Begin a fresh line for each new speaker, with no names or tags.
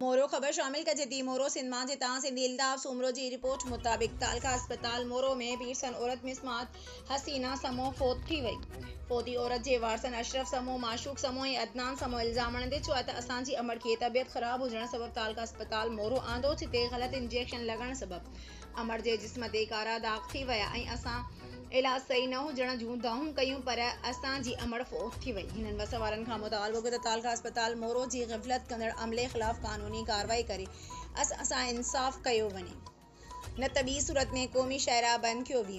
مورو، خبر شامل ڪجي ٿي، مورو سنڌ مان جتان سنڌي الطاف سومرو جي رپورٽ مطابق تعلقه اسپتال مورو ۾ پيرسن عورت مسمات حسينه سمون فوت ٿي وئي، فوتي عورت جي وارثن اشرف سمون، معشوق سمون ۽ عدنان سمون الزام هڻندي چيو آهي ته اسان جي امڙ کي طبيعت خراب هجڻ سبب تعلقه اسپتال مورو آندو جتي غلط انجيڪشن لڳڻ سبب امڙ جي جسم تي ڪارا داغ ٿي ويا ۽ اسان علاج صحيح نه هجڻ جون دانهون ڪيون پر اسان جي امڙ فوت ٿي وئي. هنن وس وارن کان مطالبو ڪيو ته تعلقه اسپتال مورو جي غفلت ڪندڙ عملي خلاف قانوني ڪارروائي ڪري اسان سان انصاف ڪيو وڃي نه ته ٻي صورت ۾ قومي شاهراهه بند ڪيو ويندو.